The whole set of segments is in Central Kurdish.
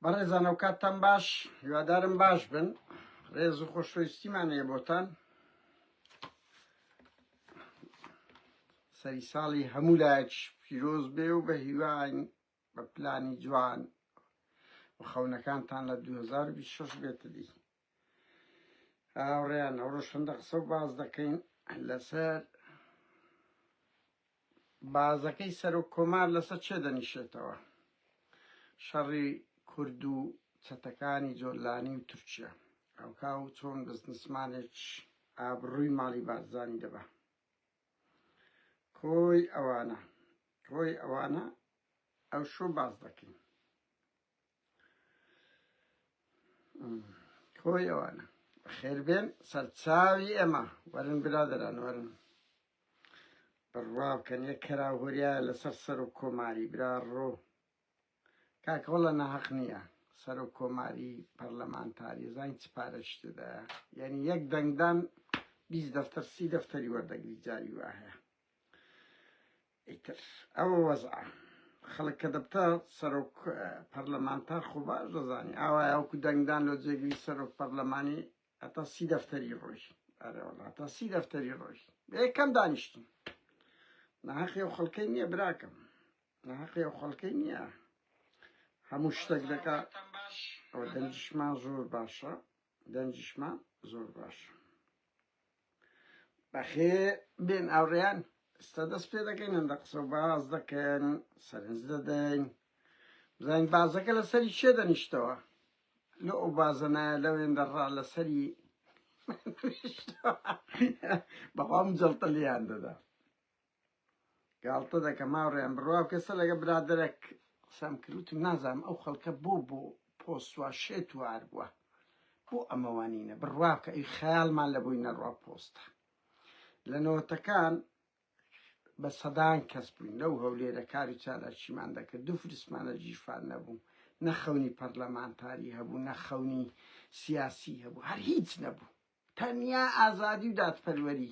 بەڕێزان ئەو کاتتان باش هیوادارم باش بن ڕێز و خۆشەویستیمان هەیە بۆتان سەری ساڵی هەموو لایەک پیرۆز بێ و بە هیواین بە پلانی جوان و خەونەکانتان لە 2026 بێتە دی هاوڕێیان ئەوڕۆ شەندە قسە و باس دەکەین لەسەر بازەکەی سەرۆک کۆمار لەسەر چێ دەنیشێتەوە شەڕی کورد و چەتەکانی جۆلانی و تورکیا ئەوکا و چۆن بزنسمانێک ئابڕووی ماڵی بارزانی دەبە کۆی ئەوانە کۆی ئەوانە ئەو شو باز دەکەین کۆی ئەوانە خێربێن سەرچاوی ئێمە وەرن برادران وەرن بڕوا بکەن یە کەرا هۆریا لەسەر سەر و کۆماری برا ڕۆ کاکەوەڵە ناحق نییە سەر و کۆماری پەرلەمانتاری زانین چ پارەشتدا یعنی یەک دەنگدان بیست دەفتەر سی دەفتەری وەردەگری جاری وایە ئیتر ئەوە وەزعە خەڵک کە دەبتە سەرۆک پەرلەمانتار خۆ باش دەزانی ئاوایە وەکو دەنگدان لۆ جێگری سەرۆک پەرلەمانی هەتا سی دەفتەری ڕۆژ ئەرێوەڵ هەتا سی دەفتەری ڕۆژ یەکەم دانیشتین ناحەقی و خەڵکەی نییە براکەم ناحەقی و خەڵکەی نییە هەموو شتێک دەکات ئەو دەنجشمان زۆر باشە دەنگیشمان زۆر باشە. بەخێر بێن ئاوڕێیان ئێستا دەست پێ دەکەین هەندە قسە و باز دەکەن سەرنج دەدەین بزانین بازەکە لەسەری چێ دەنیشتەوە لە ئەو بازەنایە لەوێن دەڕا لەسەری بەڵام جڵتە لیان دەدا گاڵتە دەکەم هاوڕێیان بڕوا بکە سە لەگە برادەرەک قسەم کرد وتم نازانم ئەو خەڵکە بۆ بۆ پۆست وا شێت وار بووە بۆ ئەمەوانینە بڕوا بکە ئەی خەیاڵمان لە بووی نەڕوا پۆستە لە نەوەتەکان بە سەدان کەس بووین لەو هەولێرە کار و چالاکیمان دەکرد دوو فرسمانە ژیرفان نەبوو نە خەونی پەرلەمانتاری هەبوو نە خەونی سیاسی هەبوو هەر هیچ نەبوو تەنیا ئازادی و دادپەروەری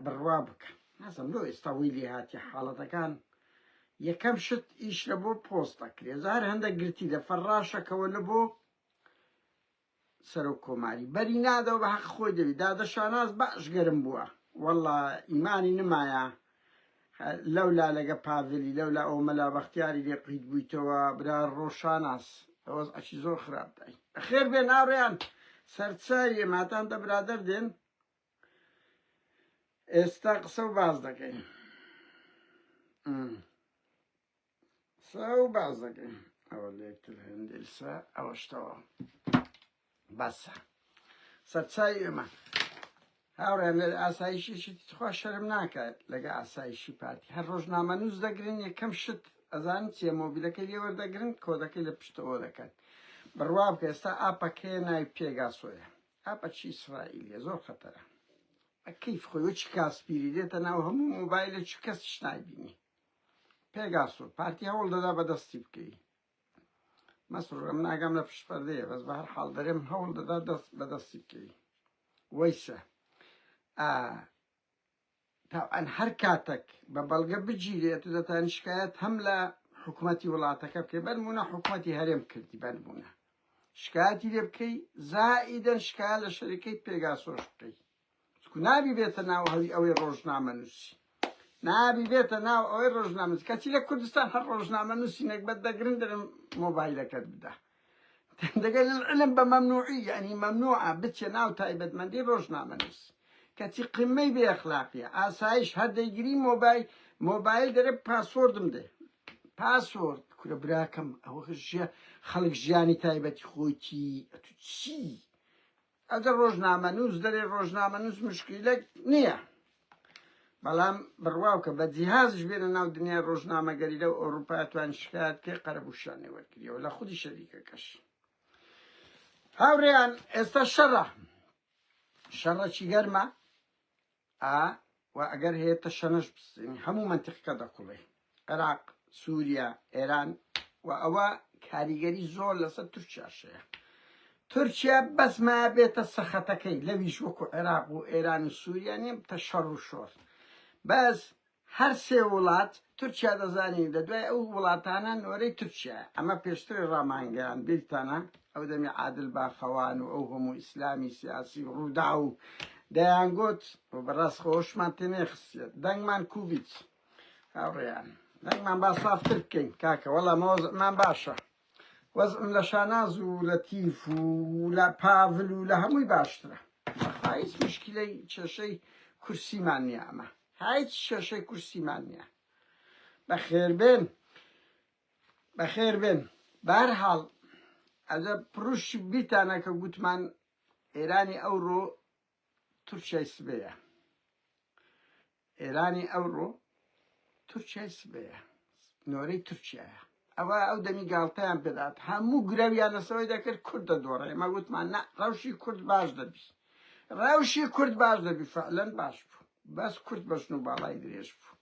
بڕوا بکە نازم لۆ ئێستا وی لێ هاتی حاڵەتەکان یەکەم شت ئیش لە بۆ پۆست دەکرێت زار هەندە گرتی لە فەرڕاشەکەەوە لە بۆ سەرۆک کۆماری بەری نادەوە بە حەق خۆی دەوی دادە شاناز بەش گەرم بووە والله ئیمانی نمایە لەولا لەگە پاڤلی لەولا ئەو مەلا بەختیاری لێ قیت بویتەوە برا ڕۆشاناس وەز عەکی زۆر خراپ دای خێر بێ ناڕێیان سەرچاویە ماتان دە برادەر دێن ئێستا قسە و باز دەکەین سا و بازەکەی ئەوە لێکتر هێندیسە ئەوەشتەوە بەسە سەرچاوی ئێمە هاوڕێن لە ئاسایشێکی تخوا شەرم ناکات لەگە ئاسایشی پارتی هەر ڕۆژنامە نووس دەگرن یەکەم شت ئەزان چیە مۆبیلەکەی لێوە دەگرن کۆدەکەی لە پشتەوە دەکەن بڕوا بکە ئێستا ئاپەکەێ ناوی پێگاسۆیە ئاپە چی ئیسرائیلیە زۆر خەتەرە کەیف خۆی چ کاسپیری دێتە ناو هەموو مۆبایلە چ کەسیش نایبینی پێگاس و پارتی هەوڵ دەدا بە دەستی بکەی مەسرور ئەم ناگام لە پشت پەردەیە بەس بە هەر حاڵ دەرێم هەوڵ دەدا دەست بە دەستی بکەی وەیسە تاوان هەر کاتەک بە بەڵگە بگیرێت و دەتان شکایەت هەم لە حکوومەتی وڵاتەکە بکەی بەرمونە حکوومەتی هەرێم کردی بەرمونە شکایەتی لێ بکەی زائیدەن شکایە لە شەریکەی پێگاسۆش بکەی چکو نابی بێتە ناو هەوی ئەوەی ڕۆژنامە نووسی نابی بێتە ناو ئەوەی ڕۆژنامەز کەچی لە کوردستان هەر ڕۆژنامە نووسی نەگبەت دەگرن درم مۆبایلەکەت بدە دەگەل العلم بە مەمنوعی یعنی مەمنوعە بچێ ناو تایبەتمەندی ڕۆژنامە نووسی کەچی قمەی بێ ئەخلاقیە ئاسایش هەر دەیگری مۆبایل مۆبایل دەرێ پاسۆردم دێ پاسۆرد کورە براکەم ئەوە ژیە خەڵک ژیانی تایبەتی خۆیتی ئەتو چی ئەگەر ڕۆژنامەنووس دەرێ ڕۆژنامەنووس مشکیلەک نییە بەڵام بڕواوکە بە جیهازش بێنە ناو دنیای ڕۆژنامەگەری لەو ئەوروپا توان شکات کێ قەرەبووشانێ وەرگریەوە لە خودی شەریکەکەش هاوڕێیان ئێستا شەڕە شەڕەکی گەرمە ئا و ئەگەر هەیە تەشەنەش بسزێنی هەموو مەنتیقەکە دەقوڵێ عێراق سووریا ئێران و ئەوە کاریگەری زۆر لەسەر تورکیاشەیە تورکیا بەس ما بێتە سەخەتەکەی لەویش وەکو عێراق و ئێران و سووریا نیە تەشەڕ و شۆر بەس هەر سێ وڵات تورکیا دەزانی لە دوای ئەو وڵاتانە نۆرەی تورکیایە ئەمە پێشتری ڕامانگەیاند بیرتانە ئەو دەمی عادل باخەوان و ئەو هەموو ئیسلامی سیاسی و ڕووداو و دەیانگوت و بەڕاست خۆشمان تێنێخستێت دەنگمان کوبیت هاوڕێیان دەنگمان با سافتر بکەین کاکە وەڵا مەوەزمان باشە وەزعم لە شاناز و لەتیف و لە پاڤل و لە هەمووی باشترە بەخوا هیچ مشکیلەی کێشەی کورسیمان نیە ئەمە هیچ کێشەی کورسیمان نیە بەخێربێن بەخێربێن بەهەرحاڵ ئەدە پڕوشت بیتانە کە گوتمان ئێرانی ئەوڕۆ تورکیای سبەیە ئێرانی ئەوڕۆ تورکیای سبەیە نۆرەی تورکیایە ئەوە ئەو دەمی گاڵتەیان پێدات هەموو گرەویان لەسەوەی دەکرد کورد دەدۆڕێ ئێمە گوتمان نە ڕەوشی کورد باش دەبی ڕەوشی کورد باش دەبی فعلەن باش بوو بەس کورد بەژن و باڵای درێژ بوو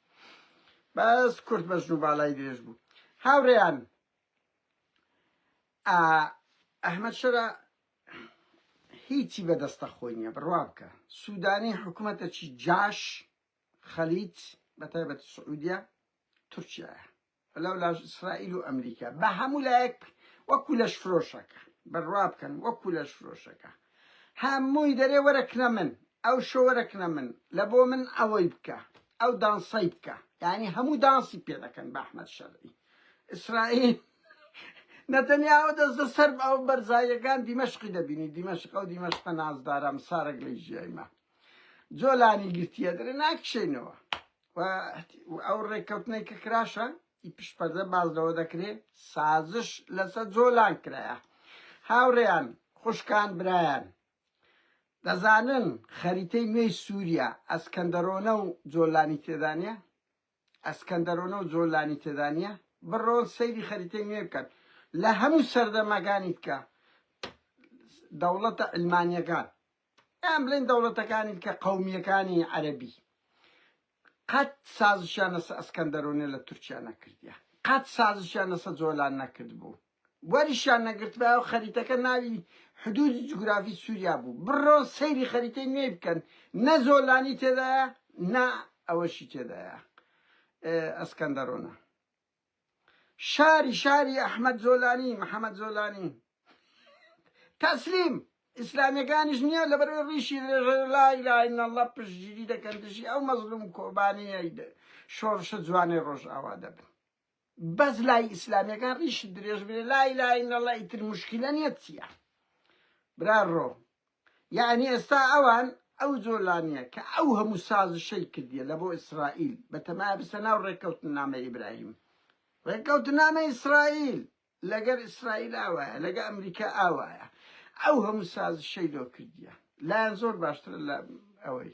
بەس کورد بەژن و باڵای درێژ بوو هاوڕێیان ئەحمد شەرە هیچی بە دەستە خۆی نیە بڕوا بکە سودانی حکومەتەکی جاش خەلیج بە تایبەت سعودیە تورکیایە لەو لاش ئیسرائیل و ئەمریکا بە هەموو لایەک وەکو لەش فرۆشەکە بڕوا بکەن وەکو لەش فرۆشەکە هەمووی دەرێ وەرەکنە من ئەو شۆوەرەکنە من لە بۆ من ئەوەی بکە ئەو دانسەی بکە یعنی هەموو دانسی پێ دەکەن بە ئەحمد شەرعی ئیسرائیل نەتەنیا ئەو دەستە سەر ئەو بەرزاییەکان دیمەشقی دەبینی دیمەشق ئەو دیمەشقە نازدارام سارەک لەی ژیایمە جۆلانی گرتیە درێ ناکشێنەوە ئەو ڕێککەوتنەی کە کراشە ئی پشپەردە باز لەوە دەکرێ سازش لەسەر جۆلان کرایە هاوڕێیان خوشکان برایان دەزانن خەریتەی نوێی سووریا ئەسکەندەرۆنە و جۆلانی تێدانە ئەسکەندەرۆنەو زۆر لانی تێدا نیە بڕۆن سەیری خەریتەی نوێ بکەن لە هەموو سەردەمەکانی تکە دەوڵەتە علمانیەکان یان بلێن دەوڵەتەکانی تکە قەومیەکانی عەرەبی قەت سازشیان لەسە ئەسکەندەرۆنە لە تورکیا نەکردیە قەت سازشیان لەسە جۆلان نەکردبوو وەریشیان نەگرتبایەو خەریتەکە ناوی حدودی جوگرافی سوریا بوو بڕۆن سەیری خەریتەی نوێی بکەن نە زۆلانی تێدایە نا ئەوەشی تێدایە ئەسکەندەرۆنە شاری شاری ئەحمەد زۆلانی محەمەد زۆلانی تەسلیم ئیسلامیەکانیش نییە لە بەر ڕیشی لایلاین الله پشتگیری دەکەن دژی ئەو مەزلوم کۆبانیە شۆڕشە جوانەی ڕۆژئاوا دەبن بەس لای ئیسلامیەکان ڕیشت درێژ بێ لا اله الا الله ئیتر مشکلە نیە چیە برا ڕۆ یعنی ئێستا ئەوان ئەو جۆلانیە کە ئەو هەموو سازشەی کردیە لە بۆ ئیسرائیل بەتەمایە بسە ناو ڕێککەوتنامە ئیبراهیم ڕێککەوتنامە ئیسرائیل لەگەر ئیسرائیل ئاوایە لەگە ئەمریکا ئاوایە ئەو هەموو سازشەی لۆ کردیە لایان زۆر باشترە لە ئەوەی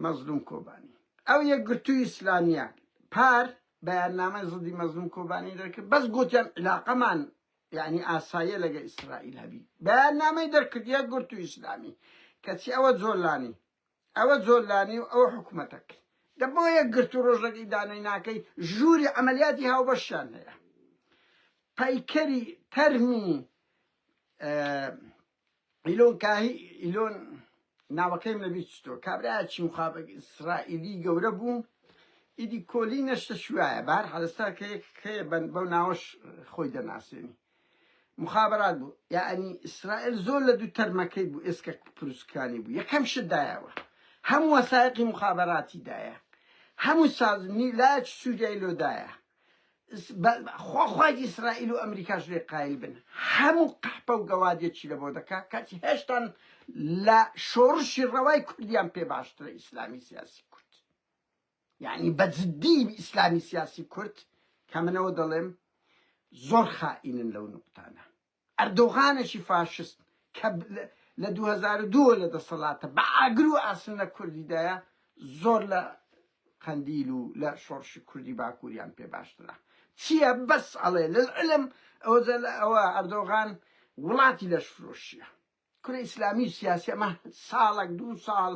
مەزلوم کۆبانی ئەو یەک گرتوی ئیسلامیە پار بەیاننامە زدی مەزلوم کۆبانی دەکرد بەس گوتیان علاقەمان یعنی ئاساییە لەگە ئیسرائیل هەبی بەیاننامەی دەرکردە گرتو ئیسلامی کەچی ئەوە جۆلانی ئەوە زۆلانی و ئەوە حکومەتەکەی دە بۆ یەک گرتو ڕۆژەکەی دانەی ناکەی ژووری عملیاتی هاوبەشیان هەیە پەیکەری تەرمی ئیلۆن کاهی ئیلۆن ناوەکەیم لە بیچتۆ کابراچی مخابە ئیسرائیلی گەورە بوو ئیدی کۆلی نەشتە شوایە بار حەلستا کە یەک بەن بەو ناوەش خۆی دەناسێنی موخابەرات بوو یەعنی ئیسرائیل زۆر لە دوو تەرمەکەی بوو ئێسکە پروسکانی بوو یەکەم شت دایەوە هەموو وەسایقی مخابەراتی دایە هەموو سازمنی لاچ سووریای لۆدایە خۆخوای ئیسرائیل و ئەمریکاش لێ قایل بن هەموو قەحپە و گەوادێکی لە بۆ دەکا کاتی هێشتان لە شۆڕشی ڕەوای کوردیان پێ باشترە ئیسلامی سیاسی کورد یانی بە جدی ئیسلامی سیاسی کورد کە من ئەوە دەڵێم زۆر خائینن لەو نوقتانە ئەردۆغانەشی فاشست کە لە دوو هەزار و دوو لە دەسەڵاتە بە ئاگر و ئاسن لە کوردیدایە زۆر لە قەندیل و لە شۆڕشی کوردی باکووریان پێ باشترە چییە بەس ئەڵێ لەعلم ئەوە ئەردۆغان وڵاتی لەش فرۆشیە کورە ئیسلامی و سیاسی ئەمە ساڵەک دوو ساڵ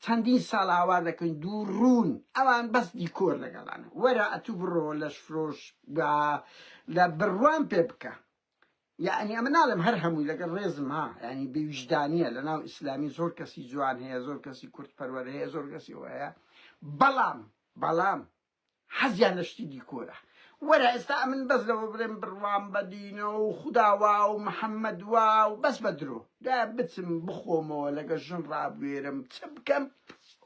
چەندین ساڵ ئاوا دەکەین دوو ڕوون ئەوان بەس دیکۆر لەگەڵان وەرە ئەتوو بڕۆ لەش فرۆش بە لە بڕوام پێ بکە یعنی ئەمە ناڵێم هەر هەمووی لەگەڵ ڕێزم ها ینی بێویژدانە لە ناو ئیسلامی زۆر کەسی جوان هەیە زۆر کەسی کورد پەروەر هەیە زۆر کەسی هەیە بەڵام بەڵام حەزیان لە شتی دیکۆرە. وەرە ئێستا ئەمن بەس لەوە بڵێم بڕوام بە دینە و خودا وا و محەممەد وا و بەس بە درۆ. دە بچم بخۆمەوە لەگە ژن ڕابوێرم چ بکەم؟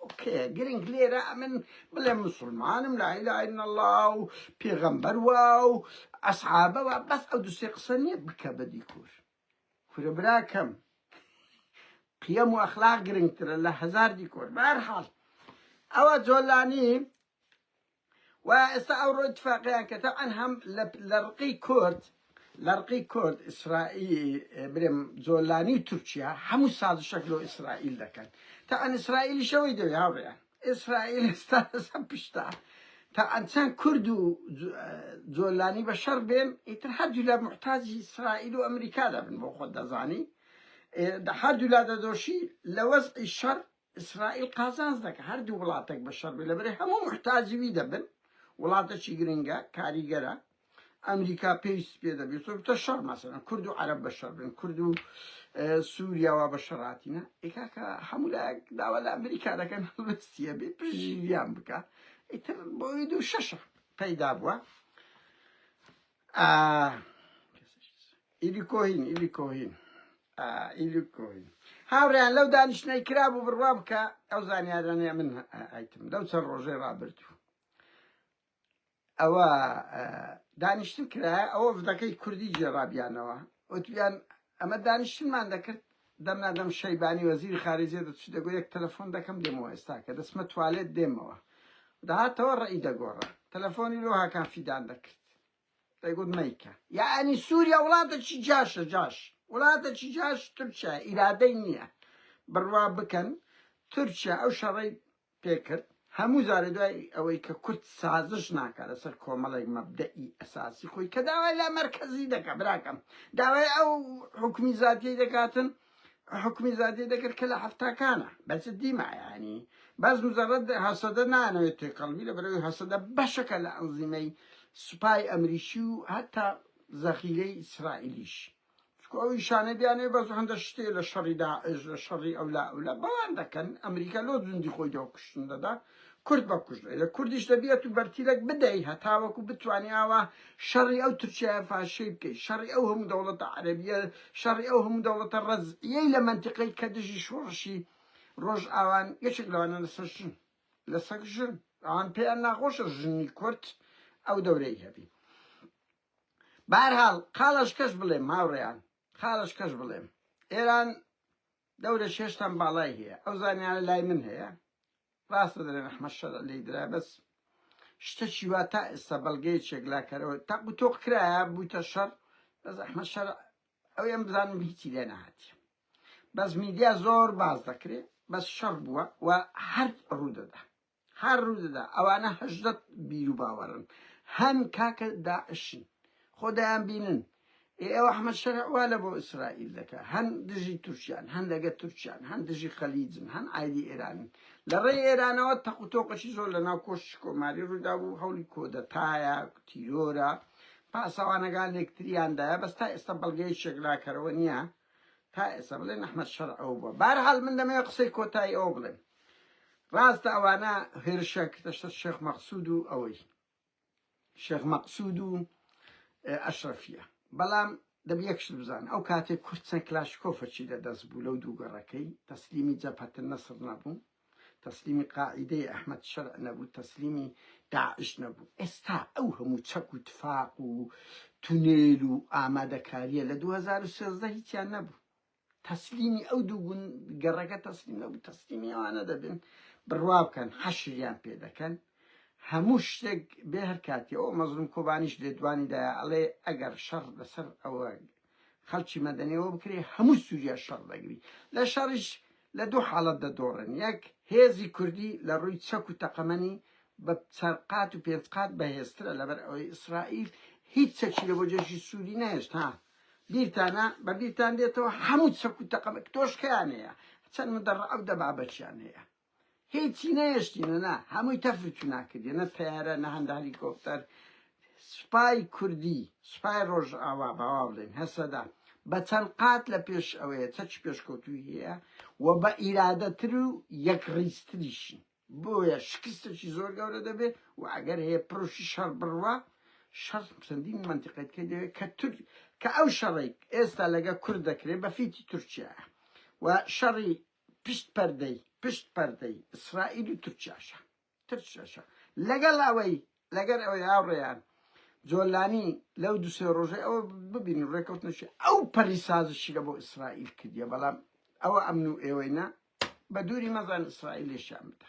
ئۆکەیە گرنگ لێرە ئەمن بڵێم موسوڵمانم لا ئیلە ئیلا اللە و پێغەمبەر وا و ئەسحابە وا بەس ئەو دوو سێ قسە نییە بکە بە دیکۆر. کورە براکەم قیەم و ئەخلاق گرنگترە لە هەزار دیکۆر بە هەر حاڵ ئەوە جۆلانی و ئێستا ئەو ڕۆ اتفاقیان کە تەعەن هەم لە ڕقی کورد لە ڕقی کورد ئیسرائیل برێم جۆلانی و تورکیا هەموو سازشەک لۆ ئیسرائیل دەکەن تەعەن ئیسرائیلی شەوەی دەوێ هاوڕێیان ئیسرائیل ئێستا لەسەر پشتە تا ئەنچەن کورد و جۆلانی بە شەڕ بێن ئیتر هەردوولا محتاجی ئیسرائیل و ئەمریکا دەبن بۆ خۆت دەزانی هەردوولا دەدۆشی لە وەزعی شەڕ ئیسرائیل قازانز دەکە هەردوو وڵاتێک بە شەڕ بێ لەبەرێ هەموو محتاجوی دەبن وڵاتەکی گرنگە کاریگەرە ئەمریکا پێویستی پێ دەبێت تۆ بتە شەڕ مەسەن کورد و عەرب بە شەڕ بن کورد و سووریاوا بە شەڕاتینە ئێکاکە هەموو لایەک داوا لە ئەمریکا دەکەن هەڵستە بێ پژیان بکە ئیتر بۆی دوو شەشە پەیدا بووە ئیلی کۆهین ئیلی کۆهین ئیلی کۆهین هاوڕیان لەو دانیشتنەی کرا بوو بڕوا بکە ئەو زانیارانەیە من ئایتم لەو چەند ڕۆژەی ڕابرد و ئەوە دانیشتن کرایە ئەوە ڤدەکەی کوردی گێڕابیانەوە وتبیان ئەمە دانیشتنمان دەکرد دەمنا دەم شەیبانی وەزیری خارجێ دەچوو دەگو یەک تەلەفۆن دەکەم دێمەوە ئێستا کە دەسمە توالێت دێمەوە داهاتەوە ڕێی دەگۆڕە تەلەفۆنی لۆ هاکان فیدان دەکرد دەگوت مەیکە یعنی سووریا وڵاتە چی جاشە جاش وڵاتە چی جاش تورکیا ئیرادەی نییە بڕوا بکەن تورکیا ئەو شەڕی پێکرد، هەموو جارێ دوای ئەوەی کە کورد سازش ناکا لەسەر کۆمەڵێک مەبدەئی ئەساسی خۆی کە داوای لامەرکەزی دەکا براکەم داوای ئەو حوکمی زاتیەی دەکاتن حکومی زادی دەکرد کە لە هەفتاکانە بەس دیمایانی بەس مزەڕەت هەسەدە نانەوێت تێکەڵبی لە بەرەوەی هەسەدە بەشەکە لە ئەنزیمەی سوپای ئەمریکی و هەتا زەخیرەی ئیسرائیلیش چونکو ئەو ئیشانەی بیانەوێ بەس هەندە شتێ لە شەڕی داعش لە شەڕی ئەولا ئەولا بەوان دەکەن ئەمریکا لۆ زوندی خۆی دەوە کوشتن دەدا کورد بە کوشت لە کوردیش دەبیێت و بەرتیلەک بدەی هەتاوەکو بتوانانی ئاوا شەڕی ئەو تورکیا فاشەی بکەی شەڕی ئەو هەموو دەوڵەتە عەربیە شەڕی ئەو هەموو دەوڵەتە ڕزیەی لە منتیقی کە دژی شۆڕشی ڕۆژ ئاوان یەکێک لەوانە لەسەر ژن لەسەر ژن ئەوان پێیان ناخۆشە ژنی کورد ئەو دەورەی هەبی بەهەرحاڵ قالەشکەش بڵێم هاوڕێیان قالەشکەش بڵێم ئێران دەورە شێشتان باڵای هەیە ئەو زانیانە لای من هەیە ڕاستە دەرێن ئەحمە شەر لی درا بەس شتەکی وا تا ئێستا بەڵگەی چێکلاکەرەوە تاق و تۆق کرایە بوویتە شەر بەس ئەحمە شەر ئەو ئەم بزانم هیچی لێ نەهاتی بەس میدیا زۆر باز دەکرێ بەس شەڕ بووە و هەر ڕوو دەدا هەر ڕوودەدا ئەوانە هەژدە بیرو باوەڕن هەن کاکە داعشن خۆ دەیان بینن ئێ ئەو ئەحمەد شەرع وا لە بۆ ئیسرائیل دەکا هەن دژی تورکیان هەن لەگە تورکیان هەن دژی خەلیجن هەن ئایدی ئێرانن لە ڕێی ئێرانەوە تەق و تۆقەشی زۆر لە ناو کۆشتی کۆماری ڕوودا بوو هەوڵی کۆدەتایە تیرۆرە پاسەوانەکان لێکتریاندایە بەس تا ئێستا بەڵگەیەکێک لاکەرەوە نییە تا ئێستا بڵێن ئەحمەد شەرع ئەوە بووە بارحال من دەمەوێت قسەی کۆتایی ئەوە بڵێم ڕاستە ئەوانە هێرشە کردەشتە شێخ مەقسود و ئەوەی شێخ مەقسود و ئەشرەفیە بەڵام دەب یەکشت بزان ئەو کاتێک کورد چەند کلاشکۆفەچی لە دەست بوو لەو دووگەڕەکەی تەسلیمی جەپەتن نەسر نەبوو تەسلیمی قاعیدەی ئەحمەد شەرع نەبوو تەسلیمی داعش نەبوو ئێستا ئەو هەموو چەک و تفاق و تونێل و ئامادەکاریە لە 2013 هیچیان نەبوو تەسلیمی ئەو دوو گون گەڕەکە تەسلیم نەبوو تەسلیمی ئەوانە دەبن بڕوا بکەن حەشریان پێ دەکەن هەموو شتێک بێ هەر کاتی ئەو مەزلوم کۆبانیش لێدوانی دایە ئەڵێ ئەگەر شەڕ لەسەر ئەوە خەڵکی مەدەنیەوە بکرێ هەموو سووریا شەڕ دەگری لە شەڕیش لە دوو حاڵەت دەدۆڕن یەک هێزی کوردی لە ڕووی چەک و تەقەمەنی بە چەرقات و پێنج قات بەهێزترە لەبەر ئەوەی ئیسرائیل هیچ چەکی لە بۆ جێشی سووری نەهێشت ها بیرتانە بە بیرتان دێتەوە هەموو چەک و تەقەمە تۆشکیان هەیە چەند مدەڕ ئەو دەبابەتیان هەیە هیچی نەهێشتینە نا هەمووی تەفر چونا کردی نە تەیارە نە هەندە هەلیکۆپتەر سوپای کوردی سوپای ڕۆژئاوا باوا بڵێن هەسەدا بە چەند قات لە پێش ئەوەیە چەچ پێشکەوتوی هەیە و بە ئیرادەتر و یەک ڕیزتریشن بۆیە شکستێکی زۆر گەورە دەبێت و ئەگەر هەیە پرۆشی شەڕ بڕوا شەڕ چەندین منتیقەت کە دەوێت کە تر کە ئەو شەڕێک ئێستا لەگە کورد دەکرێت بە فیتی تورکیا و شەڕی پشت پەردەی پشت پەردەی ئیسرائیل و تورکیاشە ترشەشە لەگەڵ ئەوەی لەگەر ئەوەی هاوڕێیان جۆلانی لەو دو سێ ڕۆژەی ئەوە ببینی ڕێکەوتنشی ئەو پەری سازشی لە بۆ ئیسرائیل کردیە بەڵام ئەوە ئەمن و ئێوەی نا بە دووری مەزان ئیسرائیلێشیان بدە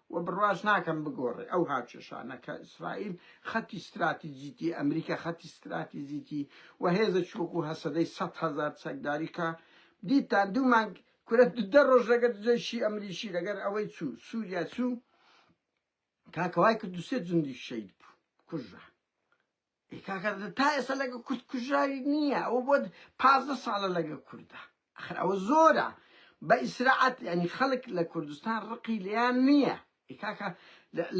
وە بڕواش ناکەم بگۆڕێ ئەو هاوکێشانە کە ئیسرائیل خەتی ستراتیجیتی ئەمریکا خەتی ستراتیجیتی وە هێزێکی وەکو هەسەدەی سەد هەزار چەکداری کە دیتان دوو مانگ کورە دە ڕۆژ لەگەر جەیشی ئەمریکی لەگەر ئەوەی چوو سووریا چوو کاکە وای کرد دوو سێ جندی شەید بوو کوژرا ئەی کاکە تا ئێستا لەگە کورد کوژراوی نییە ئەوە بۆ پازدە ساڵە لەگە کوردە ئەخر ئەوە زۆرە بە ئیسراعەت ینی خەڵک لە کوردستان ڕقی لیان نییە ئەی کاکە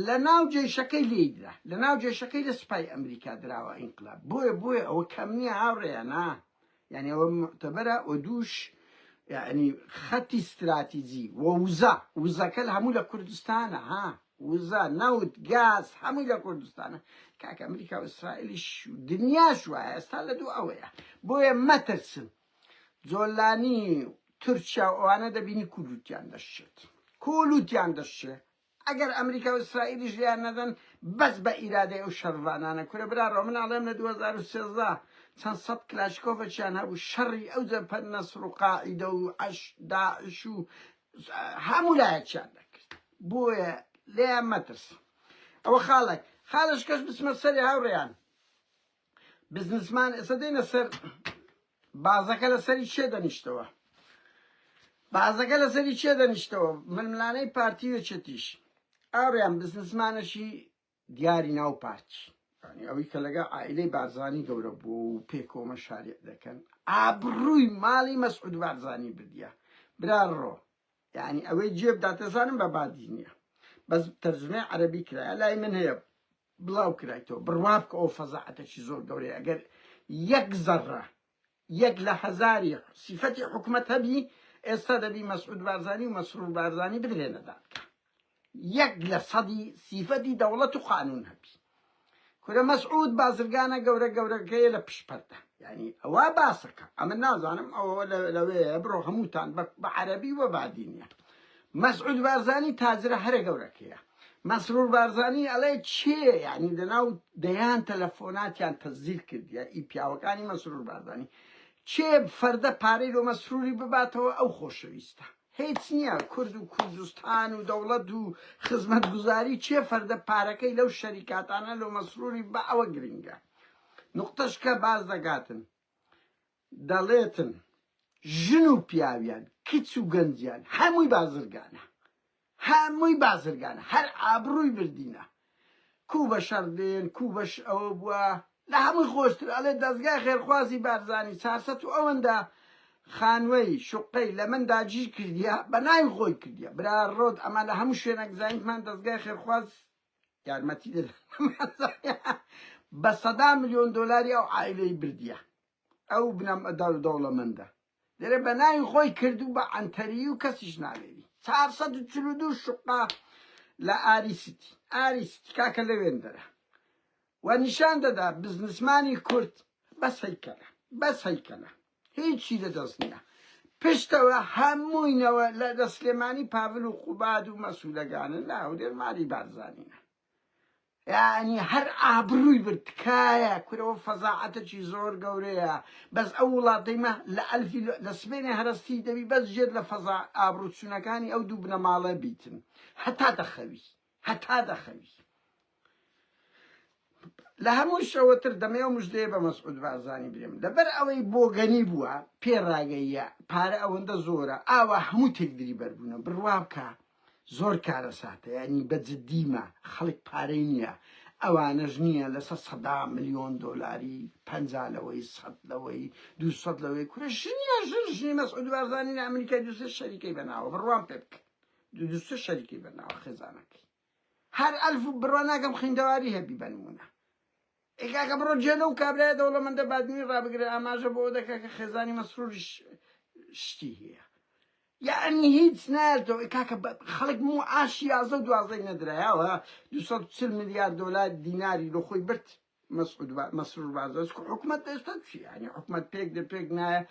لە ناو جێشەکەی لێدرا لە ناو جێشەکەی لە سوپای ئەمریکا دراوە ئینقلاب بۆیە بۆیە ئەوە کەم نییە هاوڕێیانە یانی ئەوە موعتەبەرە وە دووش یانی خەتی ستراتیجی وە وزە وزەکەل هەموو لە کوردستانە ها وزە نەوت گاز هەمووی لە کوردستانە کاکە ئەمریکا و ئیسرائیلیش دنیاش وایە ئێستا لە دوو ئەوەیە بۆیە مەترسن جۆلانی تورکیا و ئەوانە دەبینی کولوتیان دەشێت کولوتیان دەشێت ئەگەر ئەمریکاو ئیسرائیلیش لێیان نەدەن بەس بە ئیرادەی ئەو شەڕڤانانە کورە براڕۆ من ئەڵێم لە دوو هەزار و سێزدە چەند سەد کلاشکۆفەچیان هەبوو شەڕی ئەو جەبهەت نەسڕ و قاعیدە و عەش داعش و هەموو لایەکیان دەکرد بۆیە لێیان مەترس ئەوە خاڵێک خاڵش کەش بچمە سەری هاوڕێیان بزنسمان ئێستا دێنە سەر بازەکە لەسەری چێ دەنیشتەوە بازەکە لەسەری چێ دەنیشتەوە ململانەی پارتی وێچێتیش ئاڕیان بزنسمانەشی دیاری ناو پارتی ئەوی کە لەگە ئایلەی بارزانانی گەورە بوو و پێکۆمە شارێ دەکەن ئابڕووی ماڵی مەسعود بارزانانی بدە برا ڕۆ یعنی ئەوەی جێبداتەزانم بە بادی نییە بەس تەرجمە عەربی کرایە لای من هەیە بڵاو کرایتەوە بڕوا بکە ئەوە فەزاعەتەکی زۆر گەورەیە ئەگەر یەک زەڕە یەک لە هەزاری سیفەتی حکومەت هەبی ئێستا دەبی مەسعود بارزانی و مەسرور بارزانی بدرێنە دادگا یەک لە سەدی سیفەتی دەوڵەت و قانون هەبی کورە مەسعود بازرگانە گەورە گەورەکەیە لە پشپەردە یعنی ئەوە باسەکە ئەمە نازانم ئەوە لەوەیە بڕۆ هەمووتان بە عەربی وە بادینە مەسعود بارزانی تاجرە هەرە گەورەکەیە. مەسرور بارزانی ئەڵێ چێیە یانی لەناو دەیان تەلەفۆناتیان تەسجیل کردیە ئی پیاوەکانی مەسرور بارزانی چێ فەردە پارەی لۆ مەسروری بباتەوە ئەو خۆشەویستە هیچ نیە کورد و کوردستان و دەوڵەت و خزمەت گوزاری چێ فەردە پارەکەی لەو شەریکاتانە لۆ مەسروری بە ئەوە گرنگە نوقتەشکە باز دەگاتن دەڵێتن ژن و پیاویان کچ و گەنجیان هەمووی بازرگانە هەمووی بازرگانە هەر ئابڕووی بردینە کوو بە شەڕ دێن کوو بەش ئەوە بووە لە هەمووی خۆشتر ئەڵێ دەزگای خێرخوازی بارزانی چارسەت و ئەوەندە خانوەی شوقەی لە من داگیر کردیە بە ناوی خۆی کردیە برا ڕۆت ئەمە لە هەموو شوێنەک زانیمان دەزگای خێرخواز یارمەتی دەدەن بە سەدا ملیۆن دۆلاری ئەو عائیلەی بردیە ئەو بنەم ئەدار دەوڵەمەندە لێرە بە ناوی خۆی کردو بە عەنتەری و کەسیش نالێری 442 شقا لە ئاری سیتی ئاری سیتی کاکە لەوێن دەرە و نیشان دەدا بزنسمانی کورد بەس هەیکەلە بەس هەیکەلە هیچی لە دەست نیە پشتەوە هەمووی نەوە لە لە سلێمانی پاڤل و قوباد و مەسولەگانن لە هەولێر مالی بارزانینە یعنی هەر ئابرووی برد تکایە کورەوە فەزاعەتەکی زۆر گەورەیە بەس ئەو وڵاتەیمە لە ئەلفی لە سبێنێ هەرستی دەبی بەس ژێت لە فەزا ئابروچوونەکانی ئەو دوو بنەماڵە بیتن هەتا دەخەوی هەتا دەخەوی. لە هەموو شەوەتر دەمێ و مژدەیە بە مەسعود بارزانی برێم لەبەر ئەوەی بۆگەنی بووە پێ ڕاگەیە پارە ئەوەندە زۆرە ئاوا هەموو تێکدری بەربوونە بڕوا بکە زۆر کارە ساتە ینی بە جدیمە خەڵک پارەی نییە ئەوانەش نییە لەسەر سەدا ملیۆن دۆلاری پ لەوەی سەد لەوەی دو سەد لەوەی کورە ژنیە ژن ژنی مەسعود بارزانانی ئەمریکای دوسێ شەریکەی بەناوە بڕوام پێ بکە دوو دوو سێ شەریکی بە ناوە خێزانەکەی هەر ئەلف و بڕوا ناکەم خویندەواری هەبی بە نموونە ئێ کاکە بڕۆ جێ لەو کابرایە دەوڵەمەندە بادینی ڕابگرە ئاماژە بۆ ئەوە دەکا کە خێزانی مەسروریش شتی هەیە یعنی هیچ نایەتەوە ئێ کاکە بە خەڵک معاشی یازدە و دوازدەی نەدرایەوە دوو سەد و چل ملیار دۆلار دیناری لۆ خۆی برد مسعود با مسرور بارزانس کو حکومەت ئێستا چیە یعنی حکومەت پێک دە پێک نایە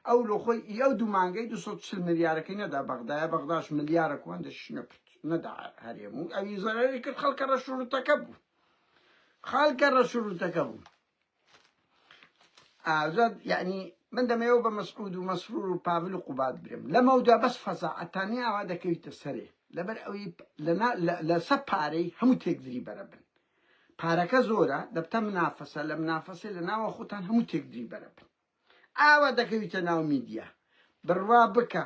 ئەو لۆ خۆی ئەو دوو مانگەی 240 ملیارەکەی نەدا بەغدایە بەغداش ملیارە کوان دەشی نەکرد نەدا هەرێم و ئەوی زەرەری کرد خەڵکە ڕەشورتەکە بوو خەڵکە ڕەشورتەکە بوو ئازاد یعنی من دەمەوە بە مەسعود و مەسرور و پاول و قوبات برم لەمەودا بەس فەزاعەتانی ئاوا دەکەویتە سەرێ لەبەر ئەوی لە سە پارەی هەموو تێکدری بەرە بن پارەکە زۆرە دەبتە منافەسە لە منافەسە لە ناوە خۆتان هەموو تێکدری بەرە بن ئاوا دەکەویتە ناو میدیا بڕوا بکە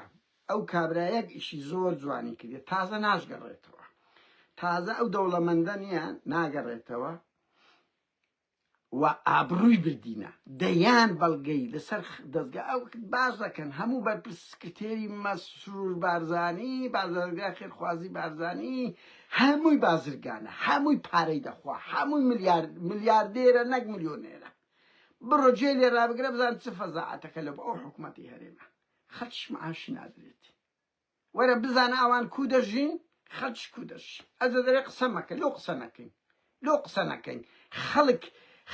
ئەو کابرایەک ئیشی زۆر جوانی کردێ تازە ناشگەڕێتەوە تازە ئەو دەوڵەمەندە نییە ناگەڕێتەوە و ئابڕووی بردینە دەیان بەڵگەی لەسەر دەزگا ئەو باس دەکەن هەموو بەرپرس سکرتێری مەسرور بارزانی بازرگا خێرخوازی بارزانی هەمووی بازرگانە هەمووی پارەی دەخوا هەمووی ملیار ملیاردێرە نەک ملیۆنێرە بڕۆ جێ لێ رابگرە بزان چ فەزاعەتەکە لە بۆ ئەو حکوومەتی هەرێمە خەتیش معاش نادرێت وەرە بزانە ئەوان کو دەژین خەلچ کو دەژین ئەزە دەرێ قسە مەکە لۆ قسە نەکەین لۆ قسە نەکەین خەلک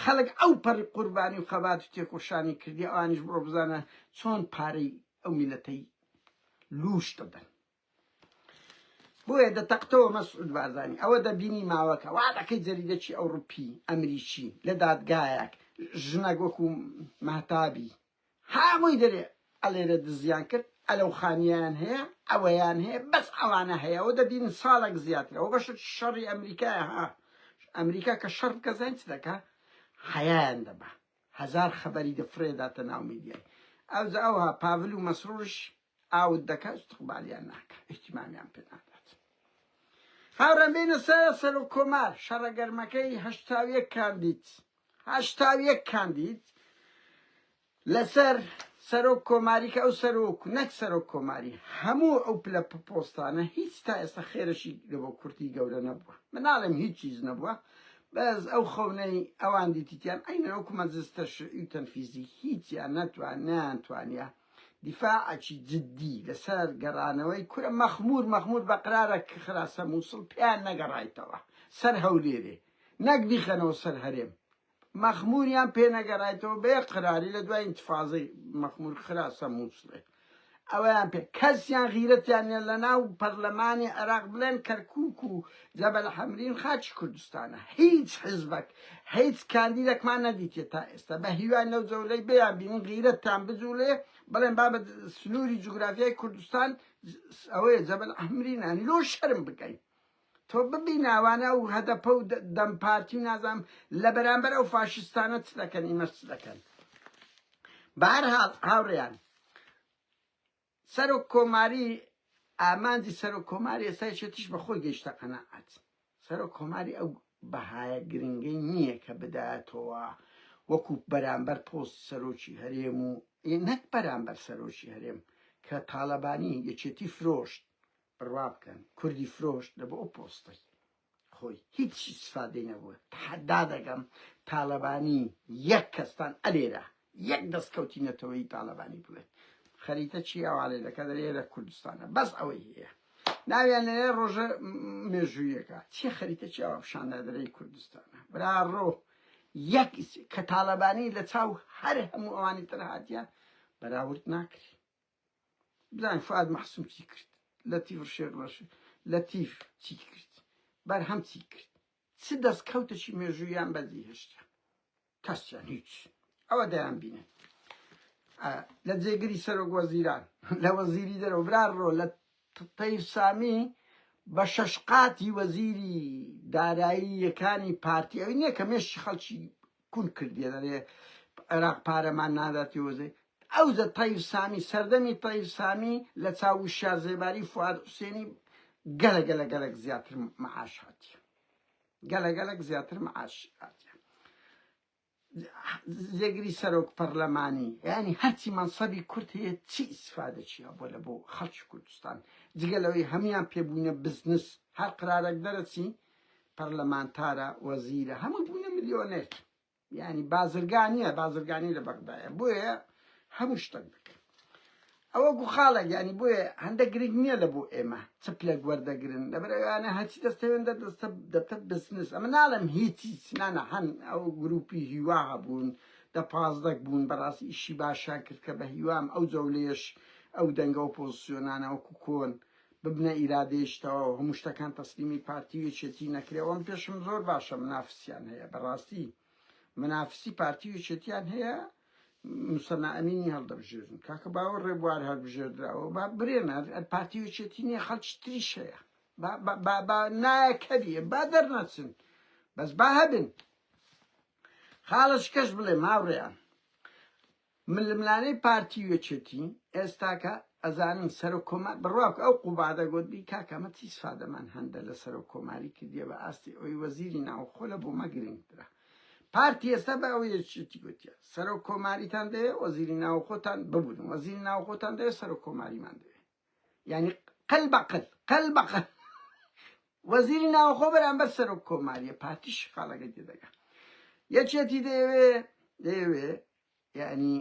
خەلک ئەو پەڕی قوربانی و خەبات و تێکۆشانی کردی ئەوانیش بڕۆ بزانە چۆن پارەی ئەو میلەتەی لووش دەدەن بۆیە دەتەقتەوە مەسعود بارزانی ئەوە دەبینی ماوەکە وا دەکەی جەریدەکی ئەوڕوپی ئەمریکی لە دادگایەک ژنەک وەکو مەهتابی هەمووی دەرێ ئەلێرە دزیان کرد ئەلەو خانیەیان هەیە ئەوەیان هەیە بەس ئەوانە هەیە ئەوە دەبینن ساڵەک زیاترە ئەوە بەشە شەڕی ئەمریکایە ها ئەمریکا کە شەڕ بکە زانین چ دەکا حەیایان دەبا هەزار خەبەری دەفرێداتە ناو میدیای ئەوجا ئەوها پاڤل و مەسرورش ئاوت دەکا ئیستقبالیان ناکا ئیهتیمامیان پێ نادات هاوڕێم بینە سەر سەرۆک کۆمار شەڕە گەرمەکەی هەشتا و یەک کاندید هەشتا و یەک کاندید لەسەر سەرۆک کۆماری کە ئەو سەرۆک نەک سەرۆک کۆماری هەموو ئەو پلە پۆستانە هیچ تا ئێستا خێرەشی لە بۆ کورتی گەورە نەبووە مناڵم هیچ چیز نەبووە بەس ئەو خەونەی ئەوان دیتیان ئەینەوەکو مەزستە شعی و تەنفیزی هیچیان نەتوان نیان توانیان دیفاعەکی جدی لەسەر گەڕانەوەی کورە مەخمور مەخمور بەقرارە کخراسە موسڵ پێیان نەگەڕایتەوە سەر هەولێرێ نەک بیخەنەوە سەر هەرێم مەخموریان پێ نەگەرایتەوە بێ قراری لە دوای انتفازی مەخمور خراسە موسڵێ ئەویان پێ کەسیان غیرەتیان لە ناو پەرلەمانی عێراق بڵێن کەرکک و جەبەل حەمرین خاکی کوردستانە هیچ حیزبەک هیچ کاندیدەکمان نەدیتیە تا ئێستا بە هیوای لەو جەولەی بیان بینین غیرەتتان بجولێ بڵێن بابە سنوری جوگرافیای کوردستان ئەوەیە جەبەل حەمرینە لۆ شەرم بکەین تۆ ببین ئەوانە ئەو هەدەپە و دەم پارتی نازام لە بەرامبەر ئەو فاشستانە چ دەکەن ئیمەش چ دەکەن بەهەرحاڵ هاوڕێیان سەرۆک کۆماری ئامانجی سەرۆک کۆماری ئێستای شێتیش بە خۆی گەیشتە قەناعەت سەرۆک کۆماری ئەو بەهایە گرنگەی نییە کە بداتەوە وەکو بەرامبەر پۆست سەرۆکی هەرێم و ی نەک بەرامبەر سەرۆکی هەرێم کە تاڵەبانی یەکێتی فرۆشت بڕوا بکەن کوردی فرۆشت لە بۆ ئەو پۆستەی خۆی هیچ ئیسفادەی نەبووە تەحەدا دەکەم تالەبانی یەک کەستان ئەلێرە یەک دەستکەوتی نەتەوەی تالەبانی بڵێت خەریتە چی ئەوانێ دەکە دەێرە کوردستانە بەس ئەوەی هەیە ناویان لەێ ڕۆژە مێژوویەکە چی خەریتە چی ئەوە پیشاندادرەی کوردستانە برا ڕۆ یەک کە تالەبانی لە چاو هەر هەموو ئەوانی تر هااتە بەراورد ناکری بزانین فوئاد مەحسوم چی کرد لەتیف شێخ ڕەش لەتیف چی کرد بەرهەم چی کرد چ دەستکەوتێکی مێژوویان بەدی هێشتا کەسیان هیچ ئەوە دەیان بینن لە جێگری سەرۆک وەزیران لە وەزیری دەرەوە برا ڕۆ لە تەیف سامی بە شەش قاتی وەزیری دارایی یەکانی پارتی ئەوی نییە کە مێشی خەڵکی کون کردیە دەرێ عێراق پارەمان نادات یۆزەی ئەوزە تەیر سامی سەردەمی تەیر سامی لە چاو وشیار زێباری فواد حوسێنی گەلە گەلە گەلەک زیاتر معاش هاتی گەلە گەلەک زیاتر معاش هاتی زێگری سەرۆک پەرلەمانی ینی هەرچی مەنسەبی کورت هەیە چی ئیسفادەچیە بۆ لە بۆ خەڵکی کوردستان جگەلەوەی هەمان پێبوونە بزنس هەر قرارێک دەرەچی پەرلەمانتارە وەزیرە هەمووی بوونە ملیۆنێر یعنی بازرگانیە بازرگانی لە بەغدایە بۆیە هەموو شتەک دەکە ئەوە گوخاڵە یعنی بۆیە هەندە گرنگ نییە لە بۆ ئێمە چ پلێک وەردەگرن لەبەرەوانە هەچی دەستەوێن دەدەستە دەبتە بزنس ئەمە ناڵم هیچی سنانە هەن ئەو گروپی هیوا هەبوون دە پازدەک بوون بەڕاستی ئیشی باشیان کرد کە بە هیوام ئەو جەولێش ئەو دەنگە و پۆزیسیۆنانەوەکو کۆن ببنە ئیرادەیەکی تەواو هەموو شتەکان تەسلیمی پارتی و یەکێتی نەکرێ وەم پێشم زۆر باشە منافسیان هەیە بەڕاستی منافسی پارتی و یەکێتیان هەیە مسەنا ئەمینی هەڵدەبژێرن کاکە باوە ڕێبوار هەر بژێردراوە با برێنە پارتی و یەکێتی نیە خەڵکی تریش هەیە با نایەکەبیە با دەرنەچن بەس با هەبن خاڵش کەش بڵێ ماوڕێیان ململانێی پارتی و یەکێتی ئێستاکە ئەزانن سەرۆک کۆمار بڕواکە ئەو قوبادە گۆتبی کاکە ئەمە چی سفادەمان هەندە لە سەرۆک کۆماری کردیە بە ئاستی ئەوی وەزیری ناوخۆ لە بۆمە گرنگترە پارتی ئێستا بە ئەو یەکێتی گوتیە سەرۆک کۆماریتان دەیە وەزیری ناوخۆتان ببوون وەزیری ناوخۆتان دەیە سەرۆک کۆماریمان دەیە یانی قل بە قل قل بە قل وەزیری ناوخۆ بەرامبەر سەرۆک کۆماریە پارتی شقاڵەکە تێدەگا یەکێتی دەیەوێ دەیەوێ یعنی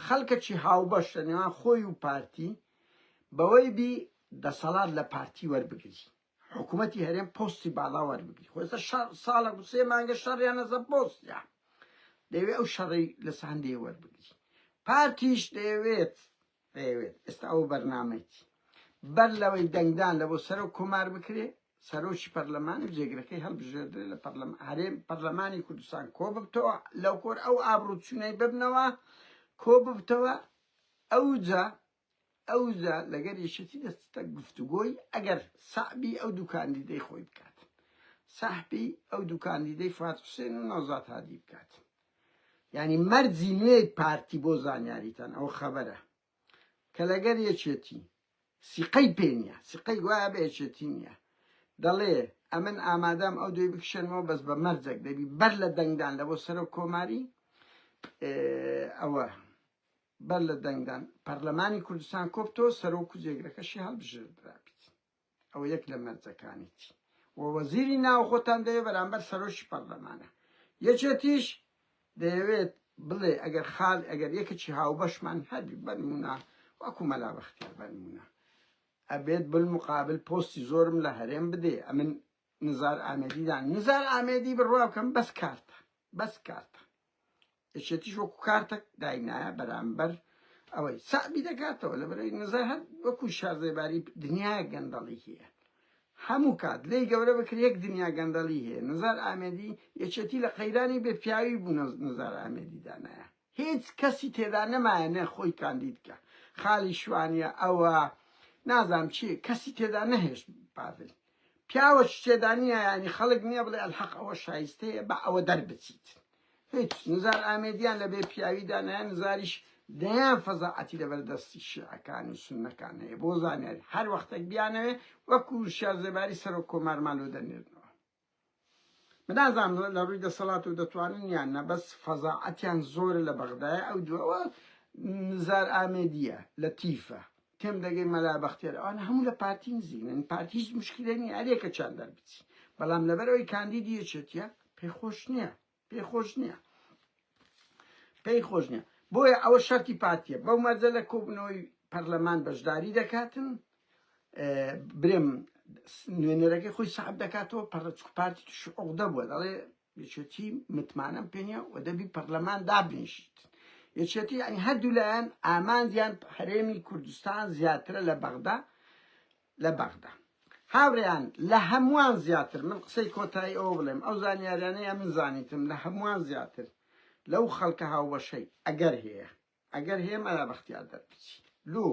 خەڵکەکی هاوبەش لە نێوان خۆی و پارتی بەوەی بی دەسەڵات لە پارتی وەربگری حکومەتی هەرێم پۆستی باڵا وەربگری خۆ ئێستا شەڕ ساڵە و سێ مانگە شەڕیانە سەر پۆستیان دەیەوێت ئەو شەڕی لە ساندێ وەربگری پارتیش دەیەوێت دەیەوێت ئێستا ئەو بەرنامەیەتی بەر لەوەی دەنگدان لە بۆ سەرۆک کۆمار بکرێ سەرۆکی پەرلەمان و جێگرەکەی هەڵبژێردرێ لە پەرلەم هەرێم پەرلەمانی کوردستان کۆ ببتەوە لەو کۆر ئەو ئابروچوونەی ببنەوە کۆ ببتەوە ئەوجا ئەوجا لەگەر یەکێتی دەچتە گفتوگۆی ئەگەر سەعبی ئەو دوو کاندیدەی خۆی بکات سەحبی ئەو دوو کاندیدەی فات حوسێن و نەوزات هادی بکات یعنی مەرجی نوێی پارتی بۆ زانیاریتان ئەو خەبەرە کە لەگەر یەکێتی سیقەی پێ نیە سیقەی گوایە بە یەکێتی نیە دەڵێ ئەمن ئامادەم ئەو دوێ بکشێنەوە بەس بە مەرجەک دەبی بەر لە دەنگدان لە بۆ سەرۆک کۆماری ئەوە بەر لە دەنگدان پەرلەمانی کوردستان کۆبتەوە سەرۆک و جێگرەکەشی هەڵبژێردرا بیت ئەوە یەک لە مەرجەکانیتی و وەزیری ناوخۆتان دەیە بەرامبەر سەرۆکی پەرلەمانە یەکێتیش دەیەوێت بڵێ ئەگەر خال ئەگەر یەکەکی هاوبەشمان هەبی بەرمونە وەکو مەلا بەختیار بەرمونە ئەبێت بالمقابل پۆستی زۆرم لە هەرێم بدێ ئەمن نزار ئامێدی دان نزار ئامێدی بڕوا بکەم بەس کارتە بەس کارتە یەکێتیش وەکو کارتەک داینایە بەرامبەر ئەوەی سابی دەکاتەوە لە بەرەی نزار هەر وەکو شارزێباری دنیا گەندەڵی هەیە هەموو کات لێی گەورە بکر یەک دنیا گەندەڵی هەیە نزار ئامێدی یەکێتی لە قەیرانی بێ پیاوی بوو نزار ئامێدی دانایە هیچ کەسی تێدا نەمایە نە خۆی کاندید بکە خالی شوانیە ئەوە نازام چی کەسی تێدا نەهێشت پاڤل پیاوە تێدا نییە ینی خەڵک نییە بڵێ ئەلحەق ئەوە شایستەیە بە ئەوە دەربچیت هیچ نزار ئامێدیان لە بێ پیاویدا نیان نزاریش دەیان فەزاعەتی لە بەردەستی شیعەکان و سنەکان هەیە بۆ زانیاری هەر وەختێک بیانەوێ وەکو شازێباری سەرۆک کۆمارمان لۆ دەنێرنەوە من نازانم لە ڕووی دەسەڵات و دەتوانن یان نە بەس فەزاعەتیان زۆرە لە بەغدایە ئەو دووەوە نزار ئامێدیە لە تیفە تێم دەگەی مەلا بەختێر ئەوان هەموو لە پارتی نزیکن پارتی هیچ مشکلێنی ئەرێکە چیان دەربچی بەڵام لەبەر ئەوی کاندیدی یەکێتیە پێخۆش نییە پێی خۆش نییە پێی خۆش نییە بۆیە ئەوە شەرتی پارتیە بەو مەرجە لە کۆبنەوەی پەرلەمان بەشداری دەکاتن برێم نوێنەرەکەی خۆی سعب دەکاتەوە پەرچک پارتی توش عقدە بووە دەڵێ یەکێتی متمانەم پێنیە و دەبی پەرلەمان دابنیشیت یەکێتی ئەنی هەردوو لایەن ئامانجیان هەرێمی کوردستان زیاترە لە بەغدا لە بەغدا. هاورێیان لە هەموان زیاتر من قسەی کۆتایی ئەوە بڵێم ئەو زانیاریانەی ئەمن زانیتم لە هەموان زیاتر لەو خەڵکە هاوبەشەی ئەگەر هەیە ئەگەر هەیە مەلا بەختیار دەربچی لۆ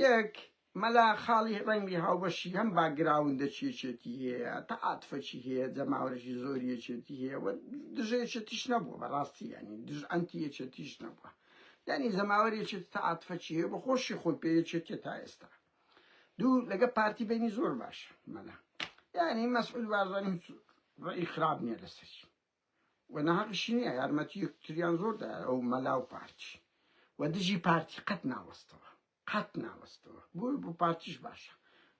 یەک مەلا خاڵی ڕەنگی هاوبەشی هەم باگراوندە چێچێتی هەیە تا عاتفەچی هەیە جەماوەرژی زۆریەچێتی هەیە و دژەیەچێتیش نەبووە بەڕاستی ینی دژ ئەنتی یەچێتیش نەبووە یانی جەماوەر یەکێتی تا عاتفە چی هەیە بە خۆشی خۆی پێ یەکێتیە تا ئێستا دوو لەگە پارتی بینی زۆر باش مەلا یانی مەسعود بارزانی هیچ ڕێی خراپ نییە لەسەری و نەهەقشی نییە یارمەتی یەکتریان زۆر دا ئەو مەلا و پارتی و دژی پارتی قەت ناوەستەوە قەت ناوەستەوە بۆ بۆ پارتیش باشە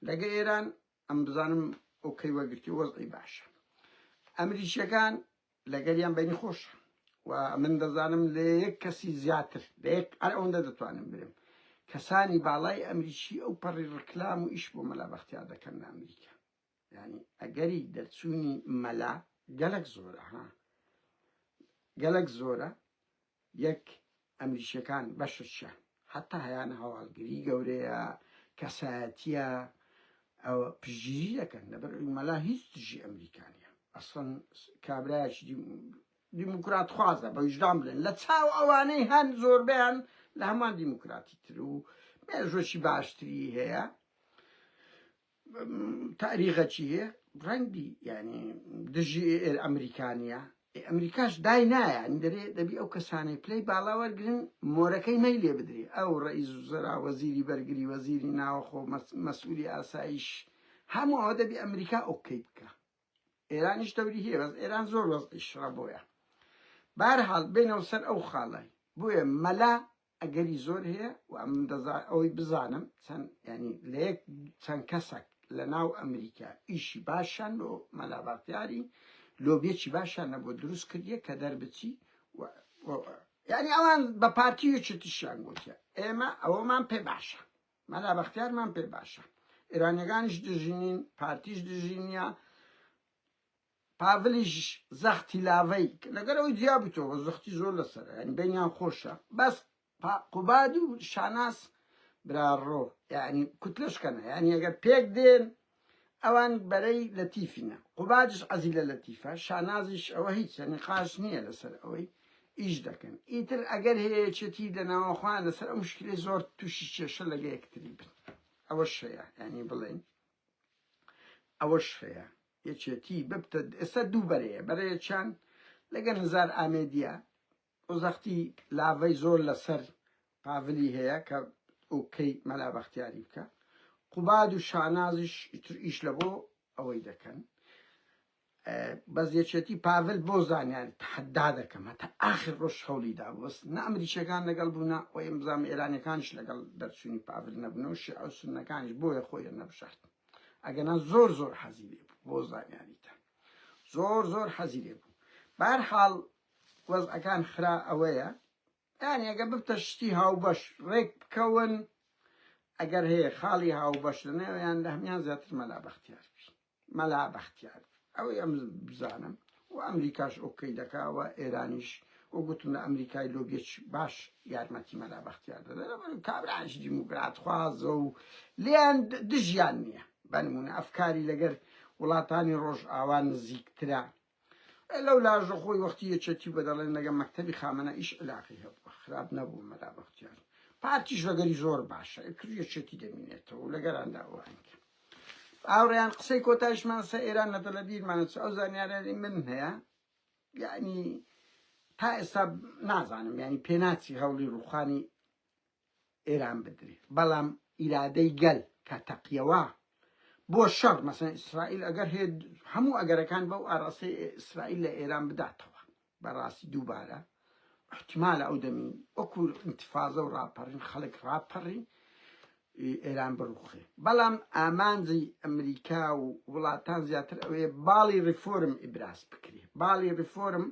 لەگە ئێران ئەم بزانم ئەو کەی وەگرتی وەزعی باشە ئەمریکیەکان لەگەریان بەینی خۆشە و من دەزانم لە یەک کەسی زیاتر لە یەک هەر ئەوەندە دەتوانم برێم کەسانی باڵای ئەمریکی ئەو پەڕی ڕکلام و ئیش بۆ مەلا بەختیار دەکەن لە ئەمریکا یعنی ئەگەری دەرچوونی مەلا گەلک زۆرە ها گەلک زۆرە یەک، ئەمریکیەکان بەشرچە حەتا هەیانە هەواڵگری گەورەیە کەسایەتیە ئەوە پشتگیری دەکەن لەبەر ئەوی مەلا هیچ دژی ئەمریکا نیە ئەسڵەن کابرایەکی دیموکرات خوازە بە ویژدان بلێن لە چاو ئەوانەی هەن زۆربیان لە هەمان دیموکراتی تر و مێژوەکی باشتری هەیە تاریخە چی یە ڕەنگ بی یانی دژی ئەمریکانە ئێ ئەمریکاش دای نایە ئەنی دەرێ دەبی ئەو کەسانەی پلەی باڵا وەرگرن مۆرەکەی مەی لێ بدرێ ئەو ڕئیز و زەرا وەزیری بەرگری وەزیری ناوەخۆ مەسئولی ئاسایش هەموو ئەوە دەبی ئەمریکا ئۆکەی بکە ئێرانیش دەوری هەیە بەس ئێران زۆر وەزعی شڕە بۆیە بارحاڵ بێنەوە سەر ئەو خاڵای بۆیە مەلا ئەگەری زۆر هەیە و ئەمن دەزا ئەوەی بزانم چەند یانی لە یەک چەند کەسەک لە ناو ئەمریکا ئیشی باشیان لۆ مەلا باختیاری لۆبیەکی باشیان نەبۆ دروست کردیە کە دەربچی و یانی ئەوان بە پارتی و چتشیان گوتیە ئێمە ئەوەمان پێ باشە مەلا بەختیارمان پێ باشە ئێرانیەکانیش دژینین پارتیش دژینە پاڤلیش زەختی لاڤەی کە لەگەل ئەوی جیا بویتەوە زەختی زۆر لەسەرە یانی بەینیان خۆشە بەس پا قوباد و شاناز برا ڕۆ یانی کوتلەش کەنە یانی ئەگەر پێک دێن ئەوان بەرەی لەتیفینە قوبادش عەزی لە لەتیفە شانازیش ئەوە هیچە نقاش نییە لەسەر ئەوەی ئیش دەکەن ئیتر ئەگەر هەیەچێتی لە ناوە خۆیان لەسەر ئەو مشکلی زۆر تووشی کێشە لەگە یەکتری بن ئەوە شەیە یانی بڵێن ئەوە شەیە یەکێتی ببتە ئێستا دوو بەرەیە، بەرەیەکیان لەگەل هەزار ئامێدیە و زەختی لاڤەی زۆر لەسەر پاڤلی هەیە کە ئۆکەی مەلا بەختیاری بکا، قوباد و شانازیش ئیتر ئیش لە بۆ ئەوەی دەکەن، بەس یەکێتی پاڤل بۆ زانیاریت تەحەدا دەکەم هەتا ئاخر ڕۆژ هەولی دا بەس نە ئەمریکیەکان لەگەڵ بوو نە ئەوەی بزانم ئێرانیەکانیش لەگەڵ دەرچوونی پاڤل نەبوونەوە شیعە و سوننەکانیش بۆیە خۆیان نەبژاردن. ئەگەنا زۆر زۆر حەزی لێ بوو بۆ زانیاریتان زۆر زۆر حەزی لێ بوو بار حاڵ وەزعەکان خرا ئەوەیە یان ئەگە ببتە شتی هاوبەش ڕێک بکەون ئەگەر هەیە خاڵی هاوبەش لەنێویان لە هەمان زیاتر مەلا بەختیار بی مەلا بەختیار بی ئەوەی ئەم بزانم و ئەمریکاش ئۆکەی دەکا و ئێرانیش و گوتم لە ئەمریکای لۆبیەکی باش یارمەتی مەلا بەختیار دەدەن لەبەرئەوەی کابرایش دیموکراتخوازە و لێیان دژیان نییە بە نموونە ئەفکاری لەگەر وڵاتانی ڕۆژئاوا نزیکترە لەو لاژە خۆی وەختی یەکێتی بە دەڵێن لەگە مەکتەبی خامەنە ئیش علاقی هەبووە خراپ نەبوو مەلا بەختیار پارتیش لەگەری زۆر باشە کرد یەکێتی دەمینێتەوە و لەگەراندا ئەوانکە هاوڕێیان قسەی کۆتایشمان سە ئێران نە دەڵە بیرمانە چ ئەو زانیارانی من هەیە یعنی تا ئێستا نازانم ینی پێناچی هەوڵی ڕوخانی ئێران بدرێ بەڵام ئیرادەی گەل کە تەقیەوە بۆ شەڕ مەسەن ئیسرائیل ئەگەر هێ هەموو ئەگەرەکان بەو ئاراسی ئیسرائیل لە ئێران بداتەوە بەڕاستی دووبارە احتمالە ئەو دەمی وەکو انتفازە و ڕاپەڕین خەڵک ڕاپەڕی ئێران بڕوخێ بەڵام ئامانجی ئەمریکا و وڵاتان زیاتر ئەوێ باڵی ڕیفۆرم ئیبراز بکرێ باڵی ڕیفۆرم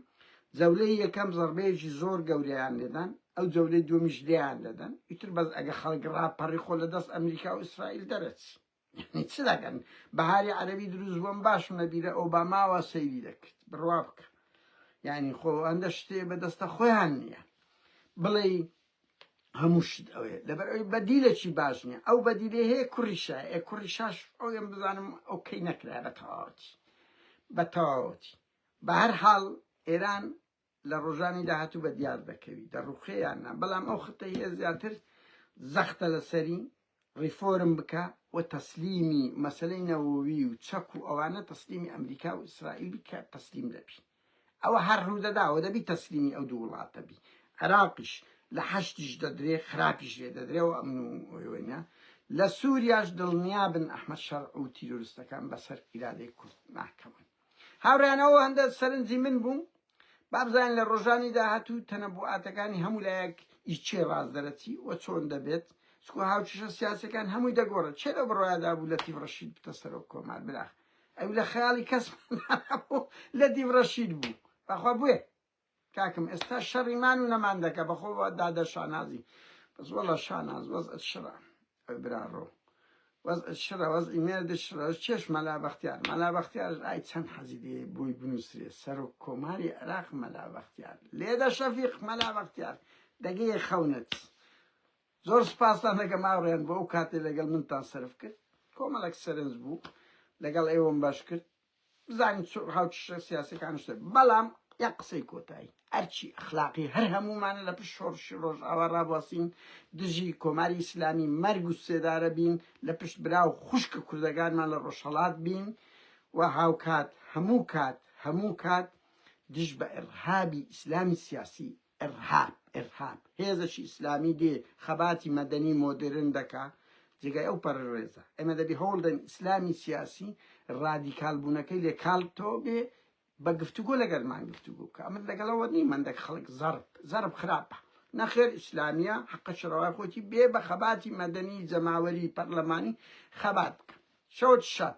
جەولەی یەکەم زەڕبەیەکی زۆر گەوریان لێدان ئەو جەولەی دومیش لیان دەدەن ئیتر بەس ئەگە خەڵک ڕاپەڕی خۆ لە دەست ئەمریکا و ئیسرائیل دەرەچی یەعنی چ دەکەن بەهاری عەرەبی دروست بووم باشم لە بیرە ئۆباماوە سەیری دەکرد بڕوا بکە یعنی خۆ ئەندە شتێ بەدەستە خۆیان نییە بڵێ هەموو شت ئەوێ لەبەر ئەوی بەدیلەکی باش نیە ئەو بەدیلێ هەیە کوڕیشە ئێ کوڕیشاش ئەوێن بزانم ئەو کەی نەکرای بە تەواوەتی بە تەواوەتی بە هەر حاڵ ئێران لە ڕۆژانی داهاتوو بە دیار دەکەوی دەڕوخێ یان نا، بەڵام ئەو خەتەی هەیە زیاتر زەختە لەسەری، ڕیفۆرم بکە و تەسلیمی مەسەلەی نەوەوی و چەک و ئەوانە تەسلیمی ئەمریکا و ئیسرائیل بی کە تەسلیم دەبی. ئەوە هەر ڕوودەداوە دەبی تەسلیمی ئەو دوو وڵاتە بی. عێراقیش لە حەشدیش دەدرێ خراپیش لێ دەدرێ و ئەمن و وێنە. لە سووریاش دڵنیا بن ئەحمەد شەرع و تیرۆرستەکان بەسەر ئیرادەی کورد ناکەون. هاوڕێیان ئەوە هەندە سەرنجی من بوو با بزانین لە ڕۆژانی داهاتوو تەنەبوعاتەکانی هەموو لایەک ئی چێ ڕاست دەرەچی و چۆن دەبێت چکۆ هاوچشە سیاسەکان هەمووی دەگۆڕێت چێ لە بڕوادا بوو لە تیڤ ڕەشید بتە سەرۆک کۆمار براخ ئەو لە خەیاڵی کەس لە دیڤ ڕەشید بوو بەخوا بوێ کاکم ئێستا شەڕی مان و نەمان دەکە بەخۆ دادە شانازی بەس وەڵا شاناز وەزعت شڕە ئەو براڕۆ وەزعت شڕە وەزعی مێردت شڕە چێش مەلا بەختیار مەلا بەختیارش ئای چەند حەزی دێ بۆی بنووسرێ سەرۆک کۆماری عێراق مەلا بەختیار لێدە شەفیق مەلا بەختیار دەگەیە خەونت زۆر سپاستان دەکەم ئاڕێن بۆ ئەو کاتێ لەگەڵ منتان سرف کرد کۆمەڵک سەرنج بوو لەگەڵ ئێوەم باش کرد بزانین چ ڕەها و چ شێ سیاسیەکان شتێ بەڵام یەک قسەی کۆتایی ئەرچی ئەخلاقی هەر هەموومانە لە پشت شۆڕشی ڕۆژئاوا ڕابواسین دژی کۆماری ئیسلامی مەرگ و سێدارە بین لە پشت برا و خوشکە کوردەکانمان لە ڕۆژهەڵات بین و هاوکات هەموو کات هەموو کات دژ بە ئرهابی ئیسلامی سیاسی ئیرهاب ئیرهاب هێزەکی ئیسلامی دێ خەباتی مەدەنی مۆدێرن دەکا جێگای ئەو پەرەرێزە ئێمە دەبێ هەوڵدەین ئیسلامی سیاسی ڕادیکال بوونەکەی لێ کاڵتەوە بێ بە گفتوگۆ لەگەرمان گفتوگۆ بکە ئەمن لەگەڵەوە نی مندەک خەڵک زەرب زەرب خراپە نەخێر ئیسلامیە حەقە شڕەوای خۆتی بێ بە خەباتی مەدەنی جەماوەری پەرلەمانی خەبات بکە شەوت شەت